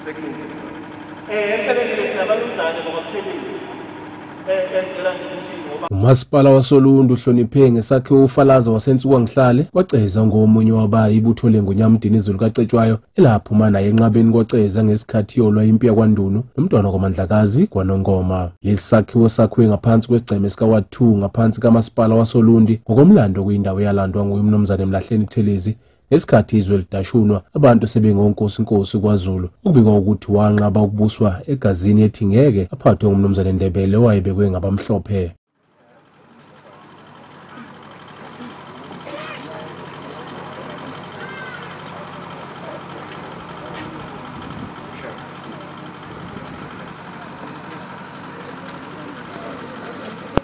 sekulungile eh empeleni ke sinabalumzane ngoba kuthebisi eh, eh, ngicela nje ukuthi ngoba umasipala wasolundu uhloniphe ngesakhiwo ufalaza wasensuka ngihlale kwaceza ngomunye wabayi ibutho lengonyamdini izulu kacetshwayo elaphuma naye enqabeni kwaceza ngesikhathi yolwa impi yakwandunu nomntwana kwamandlakazi kwanongoma lesi sakhiwo sakhiwe ngaphansi kwesigceme sika-ward 2 ngaphansi kamasipala wasolundi ngokomlando kuyindawo eyalandwa nguye umnumzane mlahleni buthelezi Ngesikhathi izwe lidashunwa abantu sebengonkosinkosi kwaZulu okubikwa ukuthi wanqaba ukubuswa egazini ethi ngeke aphathwe ngumnumzane Ndebele owayebekwe ngabamhlophe.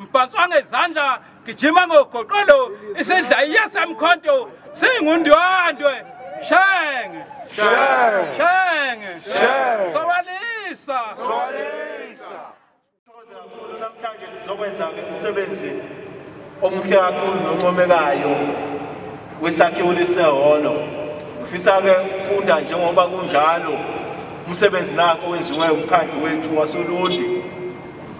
mbhanswa ngezandla gijima ngogoqolo isidla iyasamkhonto singundwandwe shenge shenge sokwalisa namhlanje sizokwenza umsebenzi omuhle kakhulu noncomekayo wesakhiwo lesehholo ngifisa-ke ukufunda njengoba kunjalo umsebenzi nako wenziwe umkhandlu wethu wasolundi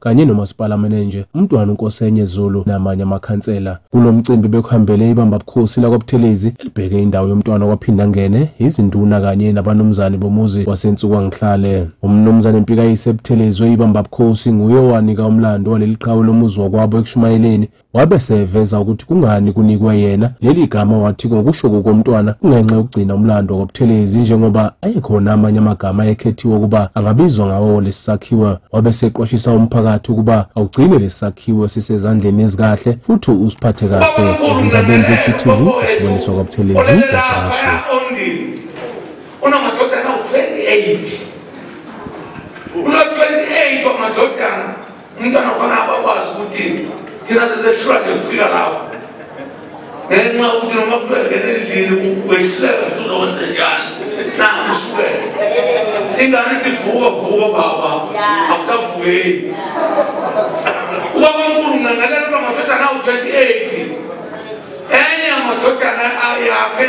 kanye nomasipala menenje umntwana unkosenye zulu namanye amakhansela kulo mcimbi bekuhambele ibamba bukhosi lakwabuthelezi elibheke indawo yomntwana kwaphinda ngene izinduna kanye nabanumzane bomuzi wasensuka ngihlale umnumzane mpikayise ebuthelezwe ibamba bukhosi nguye owanika umlando waleli qhawe lomuzi wakwabo ekushumayeleni Wabe seveza ukuthi kungani kunikwe yena leli gama wathi ngokusho kokomntwana kungenxa yokugcina umlando wakwaButhelezi njengoba ayekhona amanye amagama ayekhethiwe ukuba angabizwa ngawo lesi sakhiwo. Wabe seqwashisa umphakathi ukuba awugcine lesi sakhiwo sisezandleni ezikahle futhi usiphathe kahle. Ezindabeni ze-GTV, uSiboniso kwaButhelezi, Wabrashe. Unamadodana u-28. Uno-28 wamadodana. umntwana kufanele abakwazi ukuthi thina sesehlula nje kufika lapho ngenxa ukuthi noma kuthiwa ngena endlini wehluleka ukuthi uzokwenze njani nakusukela ingane ithi vuka vuka baba akusavukeli ubaba mkhulu ncangalela uba ngathatha nawu-28 enye yamadodana yakhe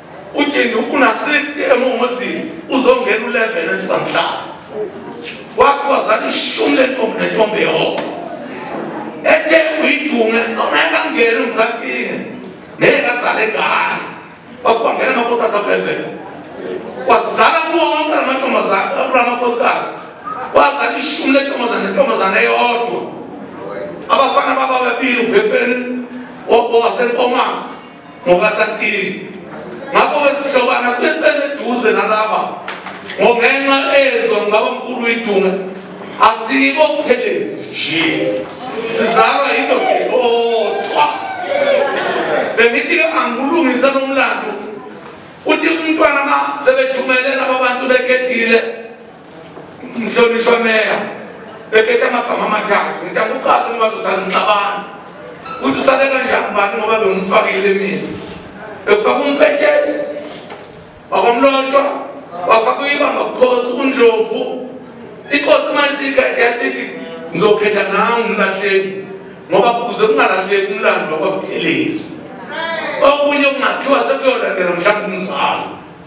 ujini una 60 emuhozini uzongena u-11 esibanhlaba wathi wazala ishumi lentombi nentombi yehoko ethe uyidunge ongeke angene umsakinge ngeke azale ngane wasibangena amakhosikazi abelevele wazala kuwo wonke lamantombazane akula makhosikazi wazala ishumi lentombazane nentombazane eyodwa abafana baba bebili ubhefeni owasenkomazi ngokasakhile ngakho-ke sihlobana kube sibe seduze nalaba ngongenxa ezwa ngibaba mkhulu idunga asibo buthelezi nje sizalwa yindoda eyodwa bengithi-ke angikulungisa nomlando uthi umntwana ma sebethumelela babantu bekhethile mhlonishwa meya bekethe amagama amathathu ngithi angiqase ngoba zosala ngixabana ukuthi usale kanjani bani ngoba bengimfakile mina ekufaka umpetshesi wakwamlotshwa wafaka uyibamba bukhosi undlovu inkosi malisigade yasithi ngizokhetha nawe umlahleni ngoba kuze kungalahleki umlando wakwabuthelezi okunye okungakhiwa sekuyolandela mhlawumbe umzalo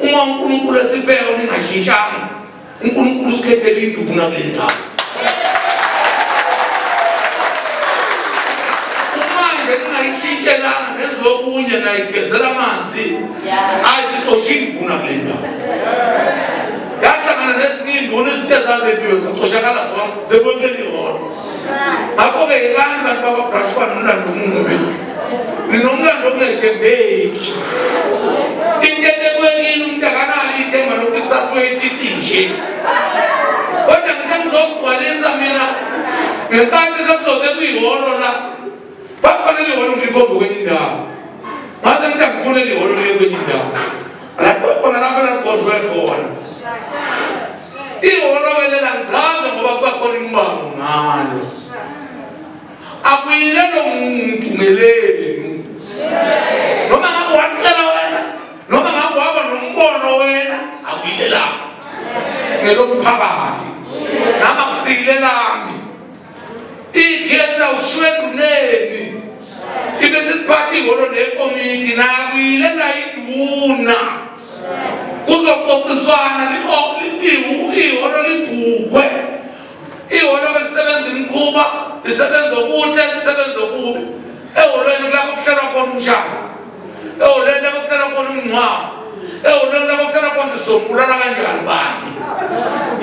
uma unkulunkulu esibheka ningashintshanga unkulunkulu usikhethela induku nakule ndawo umanje ningayishintshelanga nezokunye nayigezela amanzi ayi sixoshe induku nakule ndawo yahlangana nezinye induna izinto ezazebiwe zixoshakala zonke zebonke liholo ngakho-ke yekani bantu bakwabrash uba nomlando omubi ninomlando okungethembeki into ebekwekile umuntu akanalo ithemba lokuthi kusasa uyifithi nje kodwa ngithe ngizokugcwalisa mina ngenkathi sekuzobe kuyiholo la bakufanele iholo ngikombe kwenye indawo ngase ngithi angifunele iholo liye kwenye indawo lapho khona lapho elalibhondwe khona ihholo ke lela ngichaza ngoba kuba khona imibango ngalo akuyilelo muntu ngelenu noma ngabe wacela wena noma ngabe waba nombono wena akuyilelapho ngelomphakathi nami akusiyilelambi ikhetha ushwenduneni ibe siphatha ihholo nekomiti nakwile nayiduna kuzoxoxiswana ihholo libhukwe ihholo belisebenza imikhuba lisebenza okuhle lisebenza okubi ehholweni kulapho kuhlelwa khona umshado ewulento abakuhlela kona umngcwabo ewulento abakuhlela kona uzombulala kanjani bani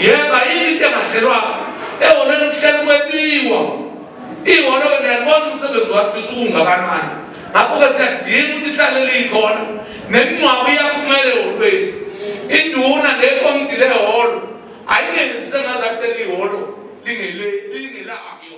yeba yini into engahlelwanga ewulento kuhlela kwebiwa iholo-ke niyalibona umsebenzi wakho usukungakanani ngakho-ke siyadinga ukuthi ihlale liyikhona nemingcwabo iyaphumela eholweni induna nekomiti leholo ayingenzi sengaze akube liholo lingelayo